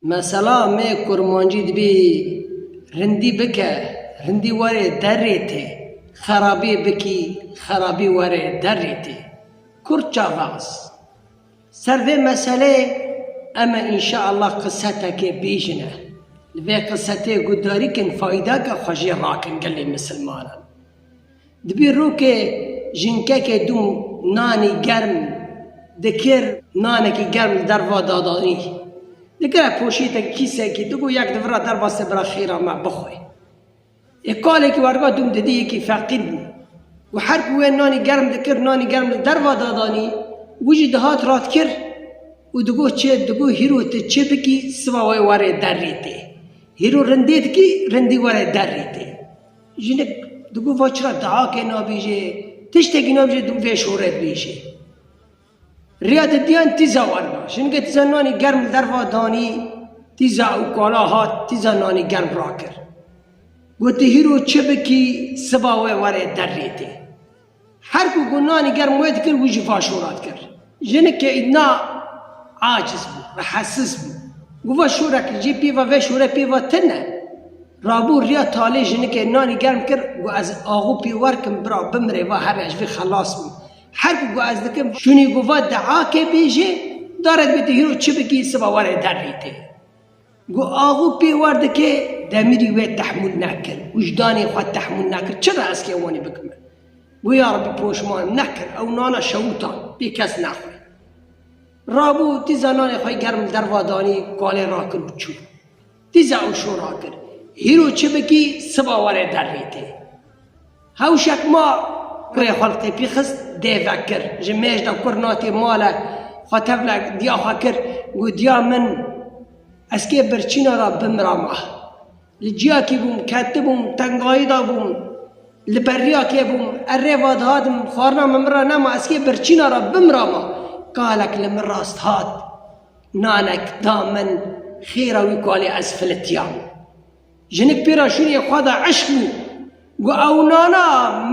Mesela me kurmancî dibê rindî bike, rindî were derrê te, xerabî bikî, xerabî were derrê te. Kurd çavaz. Ser vê meseleyê em ê înşeallah qiseteke bêjin e. Li vê qisetê guhdarî kin fayda ke xwe jê rakin gelê misilmanan. Dibî rokê jinkekê dû nanî germ dikir, nanekî germ li derva dadanî. Digire poşêtekî, kîsekî, digo yek divira derva sê bira xêra me bixwe. Ê kalekî werga dûm didî yekî feqîr bû û her ku wê nanî germ dikir, nanî germ li derva dadanî, wî jî dihat ratkir û digo çê, digo hîro tu çê bikî siva wê were derê tê. Hîro rindê dikî, rindî were derê tê. Jinik di bo va çira dahakê nabêjê, tiştekî nabêjê di bo vê şore bêjê. Rêya te diyan tîza wan ba. Jinike tîza nanî germ li der va danî, tîza ew kala hat, tîza nanî germ rakir. Gotî hîro çi bikî siba we were der rê tê. Her ku gunanî germ wê dikir wî jî vaşora dikir. Jinike Îdna aciz bû ve hesiz bû. Gu ve şore kir jê pêva vê şore pêva te ne. Rabû riya talê jinike nanî germ kir gu ez axû pê werkim bira bimire va herre ji vê xelas bûm. Her ku gu ez dikim şûnî gu ve deakê bêjê darek bê tu hîro çi bikî siba were derrî tê. Ku avu pêwar dike demirî wê tehmûl nekir, wijdanê xwe tehmûl nekir, çi re ez kê wanî bikim? Got, Ya Rebî poşman, nekir, ew nana şewûtan, pê kes nexwe. Rabû, dîza nanê xwe germ li derva danî, kalê rakir û çû. Dîza ew şora kir, Hîro çi bikî, siba were derrê te. Hewşek ma kurê xwe li tepî xist dê vekir. Ji mêj de kur natê male xwe tevle diya xwe kir got diya min ez kê birçîna ra bimira ma. Li ciyakî bûm, ketibûm, tengayî da bûm, li beriya kê bûm, erê va dihatim, xwarina min min ra nema, ez kê birçîna ra bimira ma. Kalek li min rast hat, nanek da min, xêra wî ku alê ez filitiyam. Jinik pêra şûniyê xwe de eşq bû. Got ew nana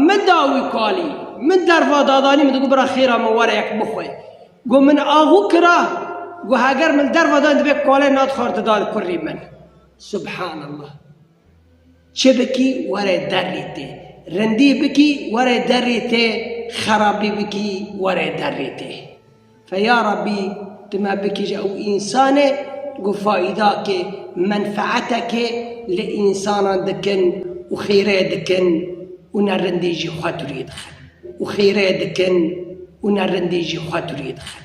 min da wî kalî. Min derva dadanî min digot bira xêra min were yek bixwe. Got min axû kira. Got heger min derva dan divê kalê nat xwar didan kurrî min. Subhanallah. Çi bikî were derrî tê. Rindî bikî were derrî tê, xerabî bikî were derrî tê. Fe ya Rabbî tu me bikije û însanê ku faîdakê, menfeetekê li însanan dikin û xêrê dikin û ne rindî jî xwe durî dixin û xêrê dikin û ne rindî jî xwe durî dixin.